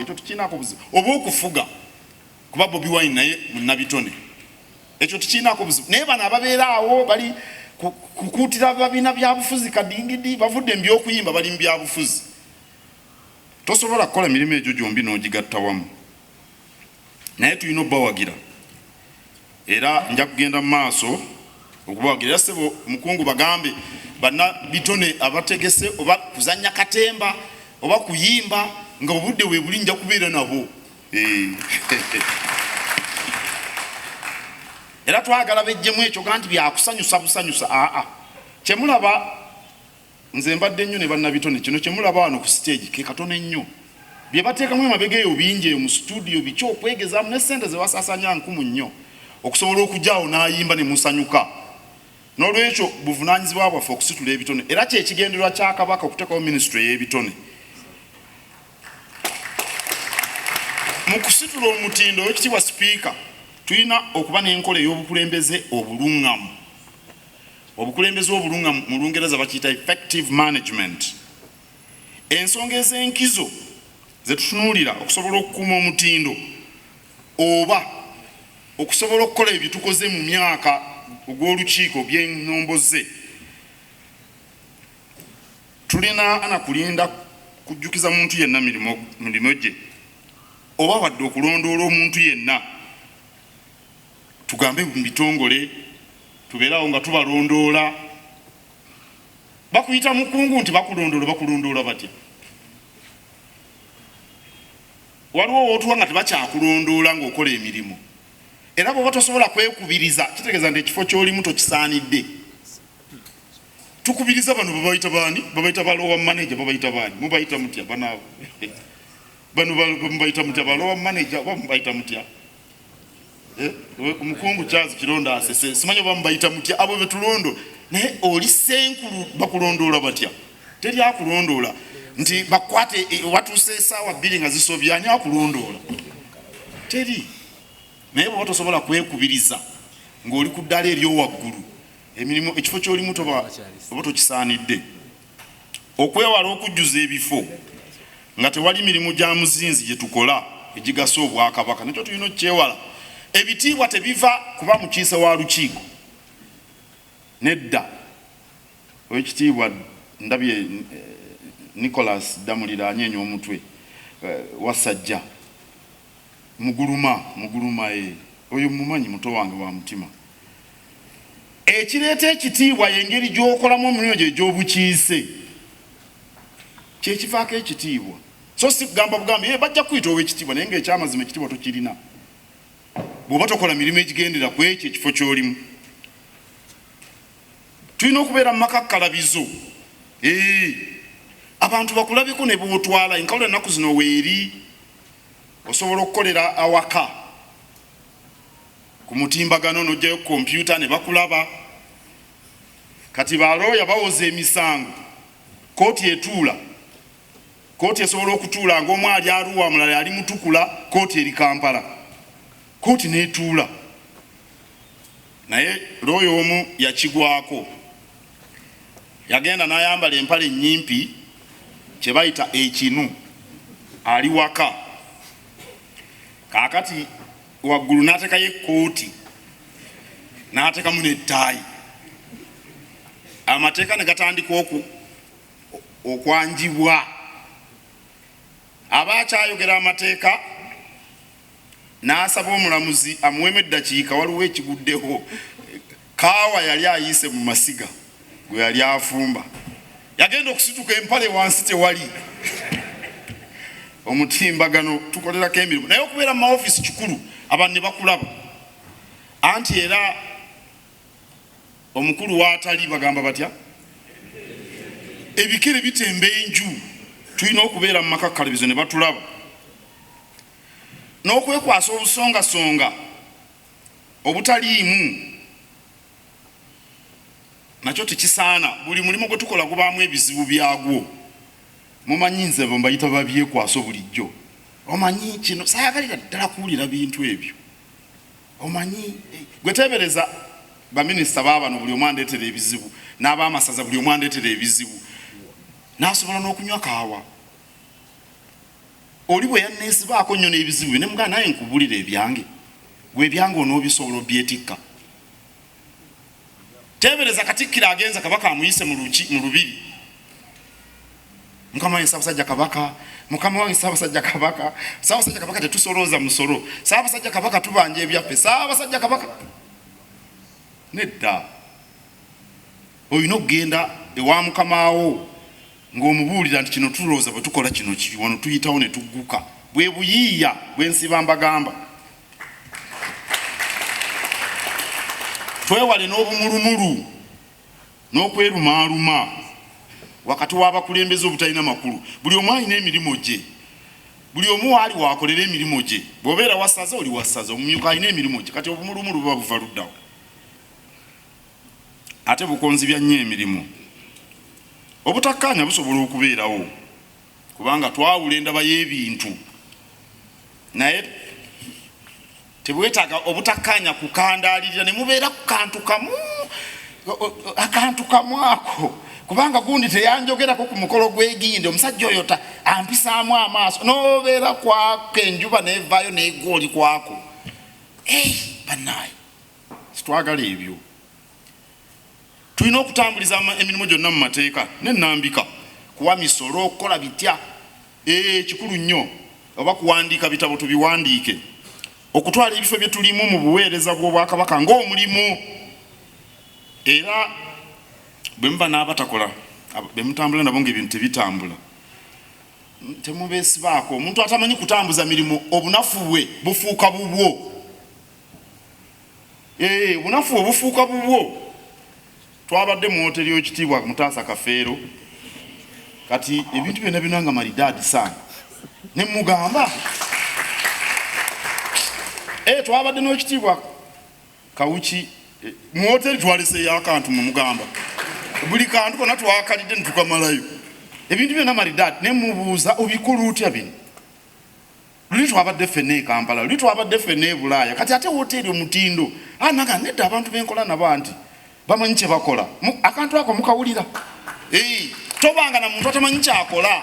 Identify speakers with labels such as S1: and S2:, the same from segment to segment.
S1: ekyo tukiinaako obuzibu oba okufuga kuba bobi wine naye munabitone ekyo tukiinaako obuzibu naye bano ababeera awo bali kukuutira babiina byabufuzi kadingidi bavudde mu byokuyimba bali mu byabufuzi tosobola kukola mirimu egyo gyombi n'ogigatta wamu naye tulina obawagira Era nja kugenda mu maaso okubawagira. Era ssebo mukungu, bagambe banna bitone abategese oba kuzannya katemba oba kuyimba nga obudde weebuli nja kubeera nabo. Eh. era twagala bejjemu ekyo ganti byakusanyusa busanyusa aa kyemulaba Nze mbadde nnyo ne bannabitone, kino kye mulaba wano ku siteegi ke katono ennyo. Bye bateekamu emabega eyo bingi eyo mu situdiyo, biki okwegezaamu ne ssente ze basaasaanya nkumu nnyo okusobola okujja awo n'ayimba ne musanyuka. N'olwekyo buvunaanyizibwa bwaffe okusitula ebitone era kye kigendererwa kya Kabaka okuteekawo minisitule ey'ebitone. Mu kusitula omutindo, Oweekitiibwa Sipiika, tulina okuba n'enkola ey'obukulembeze obulungamu. Obukulembeze obulunga mu Lungereza bakiyita effective management. Ensonga ez'enkizo ze tutunuulira okusobola okukuuma omutindo oba okusobola okukola ebyo tukoze mu myaka ogw'olukiiko by'ennomboze tulina ana kulinda kujjukiza muntu yenna mirimu gye oba wadde okulondoola omuntu yenna tugambe mu bitongole tubeerawo nga tubalondoola bakuyita mukungu nti bakulondoola bakulondoola batya waliwo wotuwa nga tebakyakulondoola ngaokola emirimu era bwoba tosobola kwekubiriza kitegeeza nti ekifo kyolimu tokisaanidde tukubiriza bano babayita baani babayita balowa manaja babayita baani mubayita mutya banaabo bano mubayita mutya balowa manaja oba mubayita mutya omukungu eh, Charles Kironda asese simanyi oba mubayita mutya abo betulondo naye oli senkulu bakulondoola batya teri akulondoola nti bakwate eh, watuuse esaawa bbiri nga zisobya ani akulondoola teri naye bwoba tosobola kwekubiriza ng'oli ku ddala eryowaggulu emirimu ekifo kyolimu toba oba tokisaanidde Okwewala okujjuza ebifo nga tewali mirimu gya muzinzi gye tukola egigasa Obwakabaka nakyo tulina okukyewala. Ebitiibwa tebiva kuba mukiise wa lukiiko, nedda. Oweekitiibwa ndabye eh, Nicholas Ddamulira anyeenya omutwe eh, Wassajja. Muguluma muguluma eeh oyo mmumanyi muto wange wa mutima. Ekireeta ekitiibwa y'engeri gy'okolamu omulimu gyo egy'obukiise. Kye kivaako ekitiibwa so si kugamba bugambi yee bajja kukuyita ow'ekitiibwa naye ng'ekyamazima ekitiibwa tokirina bw'oba tokola mirimu egigendera ku ekyo ekifo ky'olimu. Tulina okubeera mu makakkalabizo eeh abantu bakulabeko ne b'otwala. Enkaula ennaku zino weeri. Osobola okukolera awaka ku mutimbagano n'oggyayo kompyuta ne bakulaba. Kati ba looya bawoza emisango, kkooti etuula. Kkooti esobola okutuula ng'omu ali Arua, omulala ali Mutukula, kkooti eri Kampala. Kkooti n'etuula naye looya omu yakigwako. yagenda nayambala empale nyimpi kyebayita ekinu ali waka kakati waggulu natekayo ekkooti natekamu nettaayi amateeka negatandika oku okwanjibwa aba akyayogera amateeka n'asaba omulamuzi amuweemu eddakiika waliwo ekiguddewo. Kaawa yali ayiise mu masiga gwe yali afumba. Yagenda okusituka empale wansi tewali. Omutimbagano tukolerako emirimu naye okubeera mu mawofiisi kikulu abantu ne bakulaba. Anti era omukulu w'atali bagamba batya? Ebikere bitemba enju. Tulina okubeera mu maka kalebezo ne batulaba. n'okwekwasa obusongasonga obutaliimu nakyo tekisaana buli mulimu gwe tukola gubaamu ebizibu byagwo mumanyi nze bo mbayita babyekwaso bulijjo omanyi kino sayagalira ddala kuwulira bintu ebyo omanyi eh, gwe teebereza baminisita baabano buli omu andeetera ebizibu n'abaamasaza buli omu andeetera ebizibu n'asobola n'okunywa kaawa Oli bwe yanneesibaako nnyo n'ebizibu bye ne mugaa naye nkubulire ebyange gwe ebyange onoobisobola obyetikka teebereza katikkiro agenza kabaka amuyise mu lubiri mukama wange sabasajja kabaka mukama wange sabasajja kabaka sabasajja kabaka tetusolooza musolo sabasajja kabaka tubanja ebyaffe sabasajja kabaka nedda Olina okugenda ewa mukama wo ng'omubuulira nti kino tulowooza bwe tukola kino kiri wano tuyitawo ne tugguka. Bwe buyiiya bwe nsiba mbagamba. Twewale n'obumulumulu n'okwerumaaluma wakati w'abakulembeze obutalina makulu. Buli omu alina emirimu gye. Buli omu waali waakolera emirimu gye. Bw'obeera wa ssaza oli wa ssaza, omumyuka alina emirimu gye. Kati obumulumulu buba buva luddawa? ate bukonzibya nnyo emirimu. Obutakkaanya busobola okubeerawo kubanga twawula endaba y'ebintu naye tebwetaaga obutakkaanya kukandaalirira ne mubeera ku kantu kamu akantu kamu ako kubanga gundi teyanjogerako ku mukolo gwegindi omusajja oyo ta ampisaamu amaaso nobeera kwako enjuba nevaayo negwa oli kwako banaye Sitwagala ebyo. Tulina okutambuliza emirimu gyonna mu mateeka n'ennambika. Kuwa misolo, okukola bitya? Eeh, kikulu nnyo. Oba kuwandiika bitabo tubiwandiike. Okutwala ebifo bye tulimu mu buweereza bw'Obwakabaka ng'omulimu. Era bwe muba n'abatakola, be mutambula nabo ng'ebintu tebitambula, temubeesibaako. Omuntu atamanyi kutambuza mirimu, obunafu bwe bufuuka bubwo. ee eh, bunafu obufuuka bubwo twabadde mu woteri y'ekitiibwa mutaasa kafeero kati ebintu byonna byona nga malidaadi saana ne mugamba ee eh, twabadde n'ekitiibwa kawuki eh, mu woteri twaleseeyo akantu mu mugamba buli kantu kona twakalidde netukamalayo ebintu byona maridaadi nemubuuza obikola otya bino Luli twabadde ffenna e Kampala, luli twabadde ffenna e Bulaaya, kati ate wooteeri omutindo? Aa, nagamba, Nedda, abantu be nkola nabo anti bamanyi kye bakola. Mu, akantu ako mukawulira? Eyi, tobanga na muntu atamanyi ky'akola.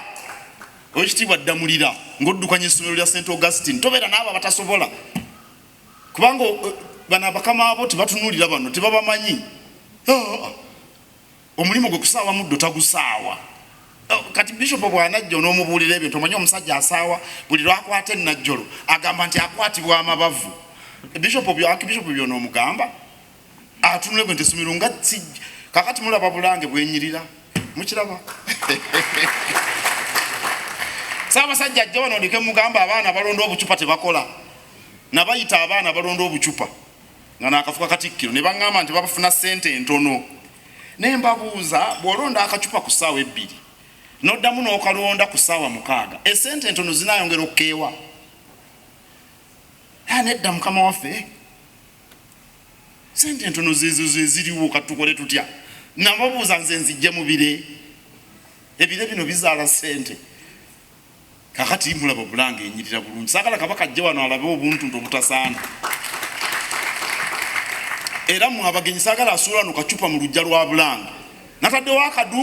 S1: Ow'ekitiibwa Ddamulira, ng'oddukanya essomero lya St. Augustine, tobeera n'abo abatasobola. Kubanga, o, bano abakama bo tebatunulira bano, tebabamanyi. Aa. Omulimu gwe kusaawa muddo tagusaawa. Oh, kati bishop bwanajja onomubuulira ebintu omanyi omusajja asaawa buli lwakwata enajjolo agamba nti akwatibwa amabavu bishop bishop byonomugamba atunule gwe ntesomero nga kakati mulaba bulange bwenyirira mukiraba saabasajja ajja wano ndike mugamba abaana balonda obucupa tebakola nabayita abaana balonda obucupa nga nakafuka katikkiro ne baŋŋamba nti babafuna ssente entono naye mbabuuza bw'olonda akacupa ku ssaawa ebbiri n'oddamu n'okalonda ku ssaawa mukaaga essente entono zinayongera okukeewa ah, nedda mukama waffe sente entono zezo zeziriwo katukole tutya nababuuza nze nzijje mubire ebire bino bizaala sente kakati mulaba bulanga enyirira bulungi sagala kabaka ajje wano alabe obuntu nti obutasaana era mwabagenyi sagala asuula no kacupa mu lujja lwa bulanga nataddewo akaduuku